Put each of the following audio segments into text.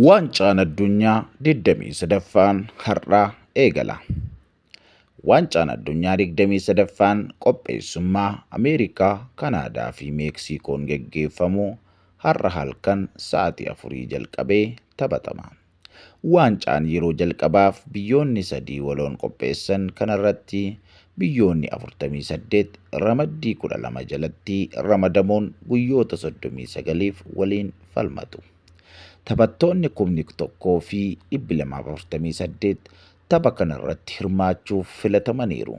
Waancaan addunyaa 23ffaan har'aa eegala. Waancaan addunyaa 23ffaan qopheessummaa Ameerikaa, Kanaadaa fi Meeksiikoon geggeeffamu har'a halkan sa'aatii afurii jalqabee taphatama. Waancaan yeroo jalqabaaf biyyoonni sadii waloon qopheessan kanarratti biyyoonni 48 ramaddii 12 jalatti ramadamuun guyyoota 39f waliin falmatu. Taphattoonni kumni 1 fi 248 tapha kanarratti hirmaachuuf filatamaniiru.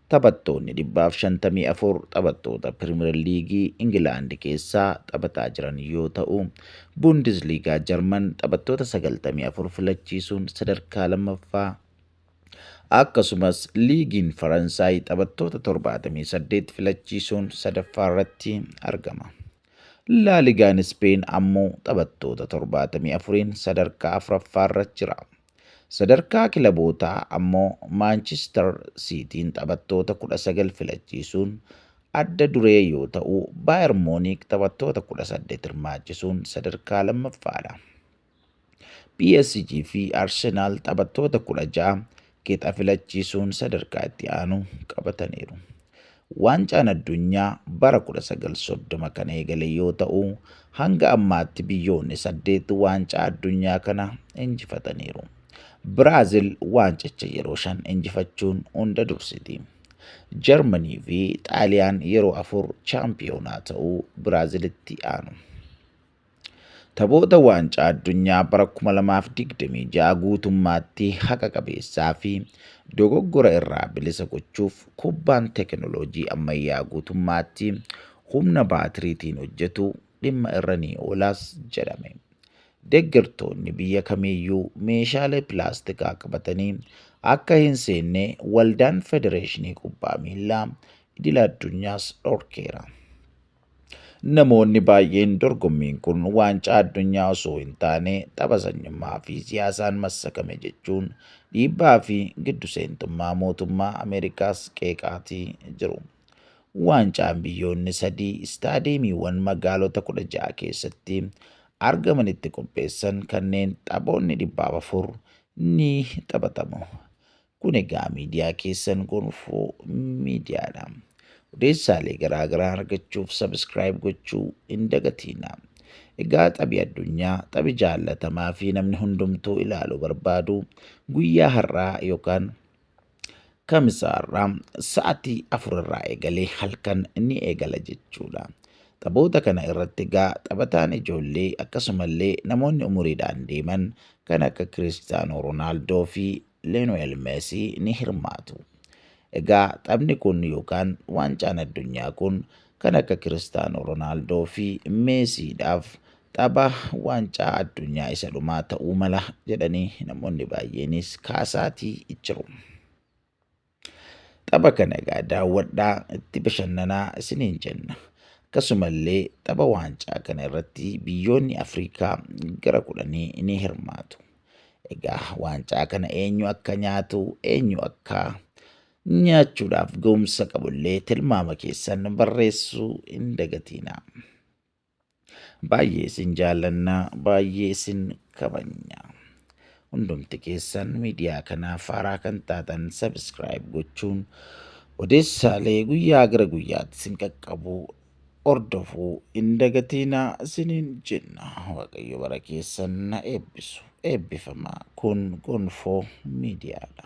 Taphattoonni 154 taphattoota Piriimer Liigii Ingilaandi keessaa taphataa jiran yoo ta'u, Buundisliigaa Jarman taphattoota 94 filachiisuun sadarkaa lammaffaa akkasumas liigiin Faransaay taphattoota 78 filachiisuun sadaffaa irratti argama. Laaligaan Ispeen ammoo taphattoota 74n sadarkaa afuraffaarra jira. Sadarkaa kilabootaa ammoo Maanchistar Siitiin taphattoota 19 filachiisuun adda duree yoo ta'u, Baayar Muuniik taphattoota 18 hirmaachisuun sadarkaa lammaffaadha. PSG fi Arsenaal taphattoota 16 qixa filachiisuun sadarkaa itti aanu qabataniiru. Waancaan addunyaa bara 1930 kan eegale yoo ta'u, hanga ammaatti biyyoonni saddeet waancaa addunyaa kana injifataniiru. Biraazil waancicha yeroo shan injifachuun hunda dursiti. Jarmanii fi Xaaliyaan yeroo afur chaampiyoonaa ta'uu Biraazilitti aanu. Taphoota waancaa addunyaa bara 2026 guutummaatti haqa qabeessaa fi dogoggora irraa bilisa gochuuf kubbaan teekinooloojii ammayyaa guutummaatti humna baatiriitiin hojjetu dhimma irra ni oolaas jedhame. Deggertoonni biyya kamiiyyuu meeshaalee pilaastikaa qabatanii akka hin seenne waldaan federeeshinii kubbaa miillaa idila addunyaas dhorkeera. Namoonni baay'een dorgommiin kun waancaa addunyaa osoo hin taane tapha sanyummaa fi siyaasaan massakame jechuun dhiibbaa fi giddu seentummaa mootummaa Ameerikaas qeeqaatii jiru. Waancaan biyyoonni sadii istaadeemiiwwan magaalota 16 keessatti argamanitti qopheessan kanneen taphoonni dhibbaaf afur ni taphatamu. Kun egaa miidiyaa keessan gonfoo miidiyaadha. Odeessaalee garaa garaa argachuuf subscribe gochuu hin dagatiina. Egaa taphi addunyaa taphi jaallatamaa fi namni hundumtuu ilaalu barbaadu guyyaa har'aa yookaan kamisa har'aa sa'atii afur irraa eegalee halkan ni eegala jechuudha. Taphoota kana irratti egaa taphataan ijoollee akkasumallee namoonni umuriidhaan deeman kan akka Kiristaanoo Roonaaldoo fi Lionel Messi ni hirmaatu. Egaa taphni kun yookaan waancaan addunyaa kun kan akka Kiristaanoo Ronaaldoo fi Meesiidhaaf tapha waancaa addunyaa isa dhumaa ta'uu mala jedhanii namoonni baay'eenis kaasaatii jiru. Tapha kana egaa daawwadhaa itti bashannanaa isiniin jenna. Akkasumallee tapha waancaa kana irratti biyyoonni Afrikaa gara kudhanii ni hirmaatu. Egaa waancaa kana eenyu akka nyaatu eenyu akka nyaachuudhaaf ga'umsa qabullee tilmaama keessan barreessuu hin dagatiinaa. Baay'ee isin jaallanna, baay'ee isin kabajna. Hundumti keessan miidiyaa kanaaf haaraa kan taatan sabiskiraayib gochuun odeessaalee guyyaa gara guyyaatti isin qaqqabu hordofuu hin dagatiina isiniin jenna. Waaqayyo bara keessan na eebbisu. Eebbifamaa kun gonfoo miidiyaadha.